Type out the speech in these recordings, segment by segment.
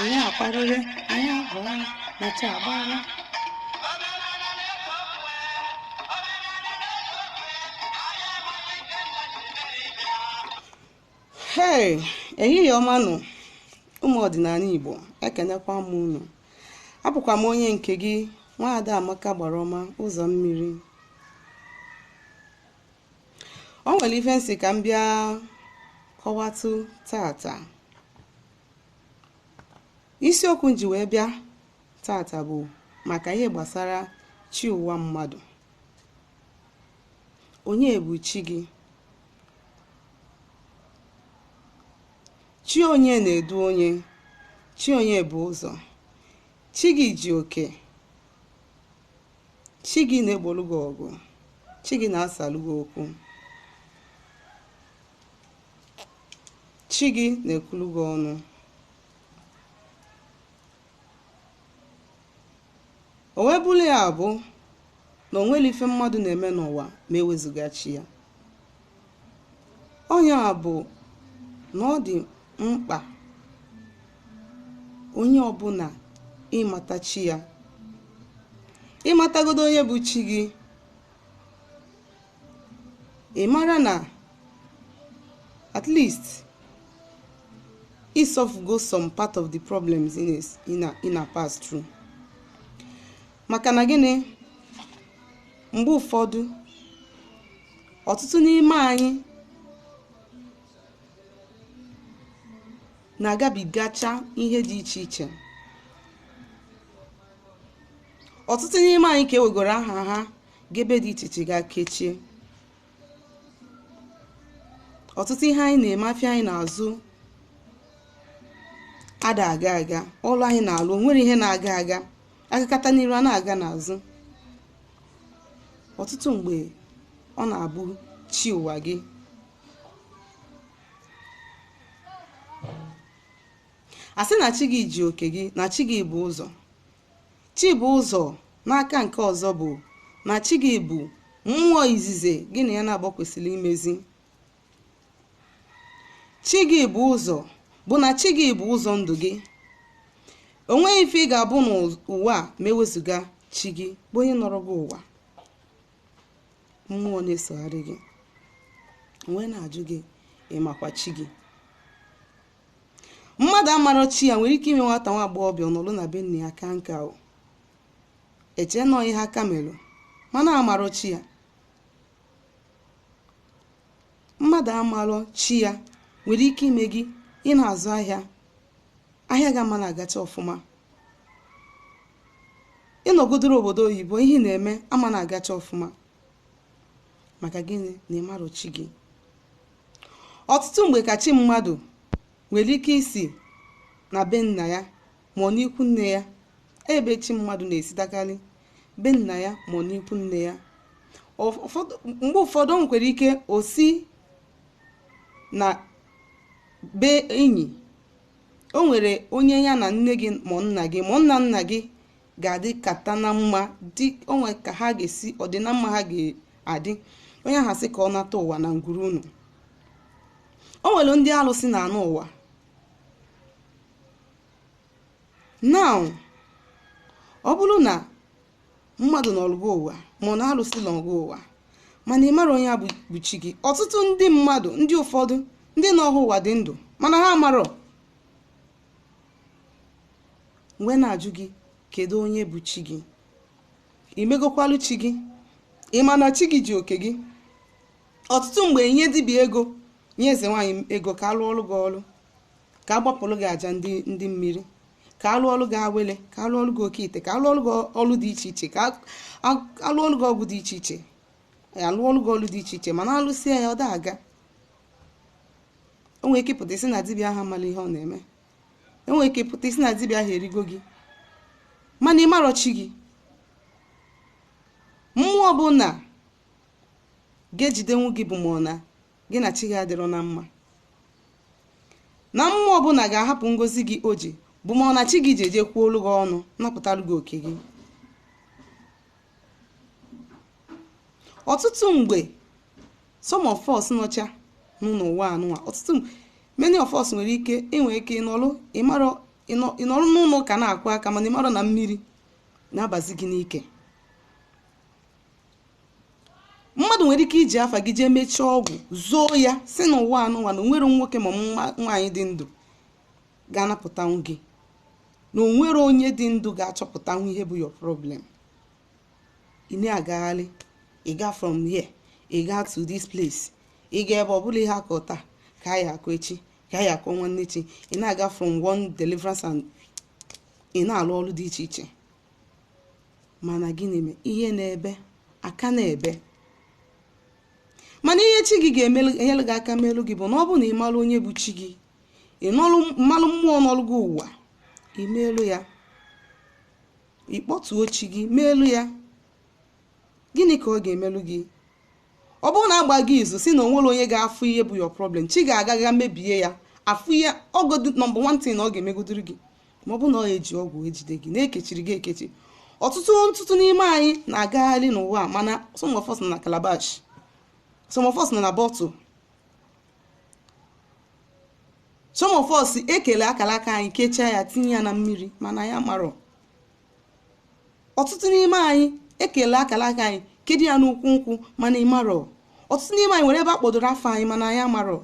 anyị akwarịrị anyị abụọ na chi agbaala hei ehihie ọma nụ ụmụ ọdịnala igbo ekenekwa m unu abụkwa m onye nke gị nwaada amaka agbara ọma ụzọ mmiri o nwere ife m sị ka m bịa kọwatụ tata isiokwu m ji wee bịa tata bụ maka ihe gbasara chi ụwa mmadụ onye bụ chi gị chi onye na-edu onye chi onye bụ ụzọ chi gị ji oke Chi gị na-egbolu gị ọgụ. Chi gị na-asalụ gị okwu. Chi gị na-ekwulu gị ọnụ. O wee bụrụ ya bụ na o nwerọ ife mmadụ na-eme n'ụwa ma ewezuga chi ya. Ọ nya bụ na ọ dị mkpa onye ọbụla ịmata chi ya. Ịmatagodo onye bụ chi gị, ị mara na at least ị solvego some part of the problems ị na- ị na- ị na pass through. Maka na gịnị? Mgbe ụfọdụ ọtụtụ n'ime anyị na-agabigacha ihe dị iche iche ọtụtụ n'ime anyị ka ewegoro aha ha gaa ebe dị iche iche gaa kechie ọtụtụ ihe anyị na-eme afịa anyị na-azụ ada aga aga ọlụ anyị na-alụ o nwerọ ihe na-aga aga agakata n'iru a na-aga n'azụ ọtụtụ mgbe ọ na-abụ chi ụwa gị a sị na chi gị ji oke gị na chi gị bụ ụzọ chi bụ ụzọ n'aka nke ọzọ bụ na chi gị bụ mmụọ izizi gị na ya naabọ kwesịrị imezi chi gị bụ ụzọ bụ na chi gị bụ ụzọ ndụ gị o nweghị ife ị ga-abụ n'ụwa a ma ewezuga chi gị bụ onye nọrọ gị ụwa mmụọ na-esogharị gị m wee na-ajụ gị ị makwa chi gị mmadụ amarọ chi ya nwere ike ime nwata nwa agbọghọbịa ọ nọlụ na be nne ya ka nka o eche na ọ ihe aka melụ mana amarọ chi ya mmadụ amarọ chi ya nwere ike ime gị ị na-azụ ahịa ahịa gị ama na-agacha ọfụma ịnọgodoro obodo oyibo ihe ị na-eme ama na-agacha ọfụma maka gịnị na ịmarọ chi gị ọtụtụ mgbe ka chi mmadụ nwere ike isi na be nna ya ma ọ n'ikwu nne ya ebe chi mmadụ na-esitakarị be nna ya ma ọ n'ikwu nne ya mgbe ụfọdụ o nwekwara ike o si na be enyi o nwere onye ya na nne gị ma nna gị ma nna nna gị ga-adịkata na mma dị o nwe ka ha ga-esi ọdịna mma ha ga-adị onye ahụ sị ka ọ nata ụwa na ngwuru unu o nwere ndị alụsị na-anọ ụwa now ọ bụrụ na mmadụ nọlụ gị ụwa ma ọ na alụsị nọ gị ụwa mana ị marọ onye a bụ chi gị ọtụtụ ndị mmadụ ndị ụfọdụ ndị nọ ha ụwa dị ndụ mana ha amarọ m wee na-ajụ gị kedu onye bụ chi gị imegokwalu chi gị ị ma na chi gị ji oke gị ọtụtụ mgbe nye dibịa ego nye eze nwaanyị ego ka a lụọlụ gị ọlụ ka a gbapụlụ gị aja ndị mmiri ka a lụọlụ gị awele ka a lụọlụ gị oke ite ka a lụọlụ gị ọlụ dị iche iche ka a lụọlụ gị ọgwụ dị iche iche a lụọlụ gị ọlụ dị iche iche mana a lụsịa ya ọ da aga o nwere ike pụta isi na dibịa ahụ amala ihe ọ na-eme o nwere ike pụta isi na dibịa ahụ erigo gị mana ị marọ chi gị mmụọ ọbụna ga-ejidenwu gị bụ ma ọ na gị na chi gị adịrọ na mma na mmụọ ọbụna ga-ahapụ ngozi gị o ji bụ ma ọ na chi gị ji eje kwuolu gị ọnụ napụtalụ gị oke gị ọtụtụ mgbe some of us nọcha n'enu ụwa anụwa ọtụtụ mgbe many of us nwere ike inwe ike ịnọrụ ịmarọ ịnọ- ịnọrụ n'ụlọ ụka na-akụ aka mana ịmarọ na mmiri na-abazi gị n'ike mmadụ nwere ike iji afa gị jee mechie ọgwụ zoo ya sị n'ụwa anụnwa na o nwerọ nwoke ma nwaanyị dị ndụ ga-anapụtanwu gị na o nwerọ onye dị ndụ ga-achọpụtanwu ihe bụ your problem ị na-agagharị ị gaa from here ị gaa to this place ị gaa ebe ọ bụla ihe a kọ taa ka a ya-akọ echi ka a ya-akọ nwanne echi ị na-aga from one deliverance and ị na-alụ ọlụ dị iche iche mana gịnị mee ihe na-ebe aka na-ebe mana ihe chi gị ga-enyere gị aka melu gị bụ na ọ bụrụ na ị malụ onye bụ chi gị ị nọrụ- malụ mmụọ nọlụ gị ụwa i meelu ya ị kpọtuo chi gị meelu ya gịnị ka ọ ga-emelu gị ọ bụrụ na agba gị izu sị na onwero onye ga-afụ ihe bụ your problem chi gị aga ga mebie ya afụ ihe ọ bụ number one thing ọ ga-emegodiri gị ma ọ bụ na ọ eji ọgwụ ejide gị na-ekechiri gị ekechi ọtụtụ ọtụtụ n'ime anyị na-agagharị n'ụwa mana some of us nọ na calabash some of us nọ na bottle some of us ekele akala aka anyị kechie ya tinye ya na mmiri mana anyị amarọ ọtụtụ n'ime anyị ekele akala aka anyị kedo ya n'ukwu nkwụ mana ị marọ ọtụtụ n'ime anyị nwere ebe a kpọdoro afọ anyị mana anyị amarọ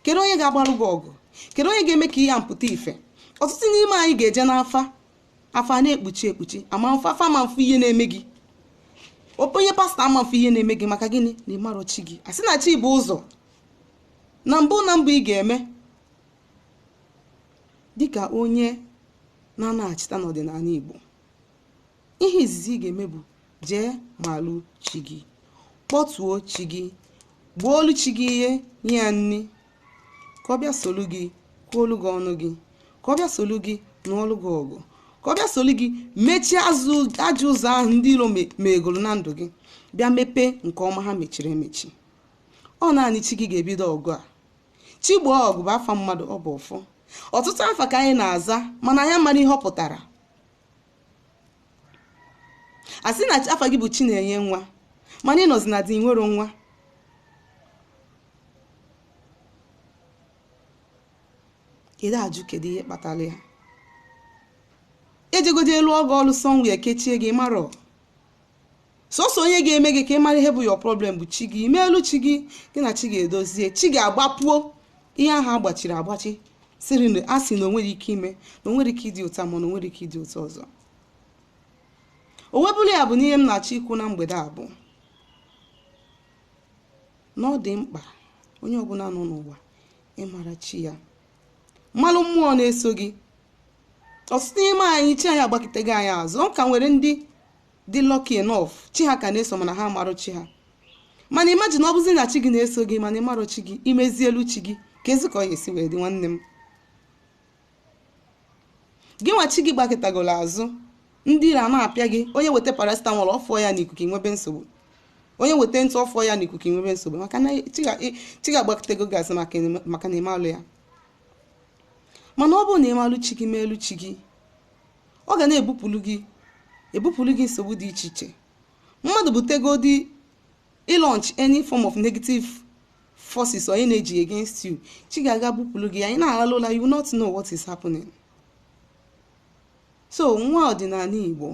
kedu onye ga-agbarụ gị ọgụ kedu onye ga-eme ka ihe a pụta ife ọtụtụ n'ime anyị ga-eje n'afa afa na-ekpuchi ekpuchi ama mfa afa ama mfụ ihe na-eme gị onye pastọ ama mfụ ihe na-eme gị maka gịnị na ịmarọ chi gị a sị na chi bu ụzọ na mbụ na mbụ ị ga-eme Dịka onye na-anachita n'ọdịnanị Igbo, ihe izizi ị ga-eme bụ jee malụ chi gị, kpọtuo chi gị, gbuolu chi gị ihe, nye ya nni, ka ọ bịa solu gị kwuolu gị ọnụ gị, ka ọ bịa solu gị nụọlụ gị ọgụ, ka ọ bịa solu gị mechie ajọ ụzọ ahụ ndị iro me- megoro na ndụ gị, bịa mepee nke ọma ha mechiri emechi. Ọ naanị chi gị ga-ebido ọgụ a. Chigboo ọgụ bụ afa mmadụ ọ bụ ọfọ. Ọtụtụ afa ka anyị na-aza mana anyị amarọ ihe ọ pụtara. A sị na afa gị bụ Chinenye nwa mana ị nọzi na di i nwero nwa. Ị na-ajụ kedu ihe kpatara ya. Ejego jee lụọ ọgọ ọlụ somewhere kechie gị ị marọ. sọsọ onye ga-eme gị ka ị mara ihe bụ your problem bụ chi gị imeelu chi gị gị na chi gị edozie chi gị agbapuo ihe ahụ agbachiri agbachi siri na a sị na onwero ike ime na onwero ike ịdịta mma na onwero ike ịdịta ọzọ o wee bụrụ ya bụ n'ihe m na-achọ ikwu na mgbede a bụ na ọ dị mkpa onye ọbụla nọ n'ụwa ịmara chi ya malụ mmụọ na-eso gị ọtụtụ n'ime anyị chi anyị agbakịtago anyị azụ ọ ka nwere ndị dị lucky enough chi ha ka na-eso mana ha amarọ chi ha mana imagine ọ bụzi na chi gị na-eso gị mana ịmarọ chi gị imezielu chi gị keezi ka ọ ga-esi wee dị nwanne m gị nwa chi gị gbakịtagoro azụ ndị iro na-apịa gị onye weta paracetamol ọ fụọ ya n'ikuku i nwebe nsogbu onye weta ntụ ọ fụọ ya n'ikuku i nwebe nsogbu maka na chi gị agbakịtago gị azụ maka na ịmarọ ya mana ọ bụrụ na ịmalụ chi gị meelu chi gị ọ ga na-ebupụrụ gị ebupụrụ gị nsogbu dị iche iche mmadụ butegodi ịlaunch any form of negative forces or energy against you chi gị aga bupụrụ gị ya ị na-alalụ ụla you will not know what is happening so nwa ọdịnanị igbo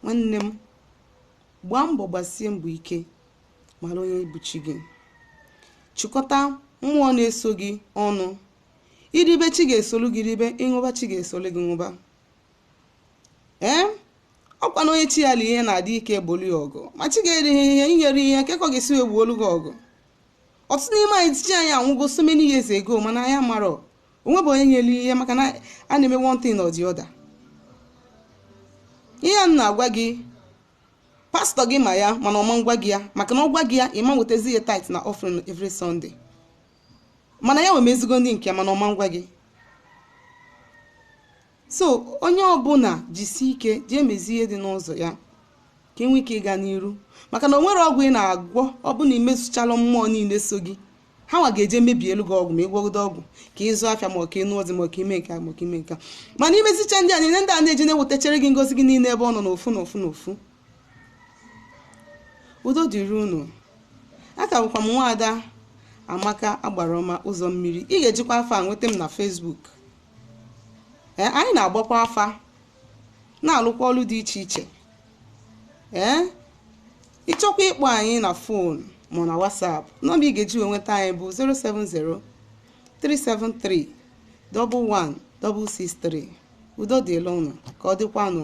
nwanne m Gbaa mbọ gbasie mbọ ike mara onye bụ chi gị. Chịkọta mmụọ na-eso gị ọnụ. I ribe chi gị esolu gị ribe, ị ṅụba chi gị esolu gị ṅụba. Ee, ọ kwa na onye chi ya lie ihe na-adị ike ebulu ya ọgụ. Ma chi gị erighị ihe, i nyerọ ya ihe, kee ka ọ ga-esi wee buolu gị ọgụ. Ọtụtụ n'ime anyị chi anyị anwụgo so many years ago mana anyị amarọ. o nwebe onye nyere ihe maka na a na-eme one thing or the other ihe a m na-agwa gị pastọ gị ma ya mana ọ ma-agwa gị ya maka na ọ gwa gị ya ị ma-ewetazi ya tithe na offering every Sunday mana ya nwa emezigo ndị nke ya mana ọ ma-agwa gị so onye ọbụla jisi ike jee mezie ihe dị n'ụzọ ya ka e nwee ike ịga n'iru maka na o nwere ọgwụ ị na-agwọ ọ bụ na i mezicharọ mmụọ niile so gị ha nwa ga-eje mebielu gị ọgwụ ma ị gwọgodo ọgwụ ka ị zụọ afịa ma ọ ka ị nụọ di ma ọ ka i mee nke a ma ọ ka i mee nke a mana i mezicha ndị a niile ndị a na-eje na-ewetachara gị ngozi gị niile ebe ọ nọ n'ofu n'ofu n'ofu udo dịrị unu aka bụkwa m nwaada amaka agbara ọma ụzọ mmiri ị ga-ejikwa afa a nweta m na Facebook ee anyị na-agbakwa afa na-alụkwa ọlụ dị iche iche ee ị chọkwa ịkpọ anyị na fon ma na WhatsApp nọmba ị ga-eji wee nweta anyị bụ 070 373 11 663 udo dịlị ụnụ ka ọ dịkwanụ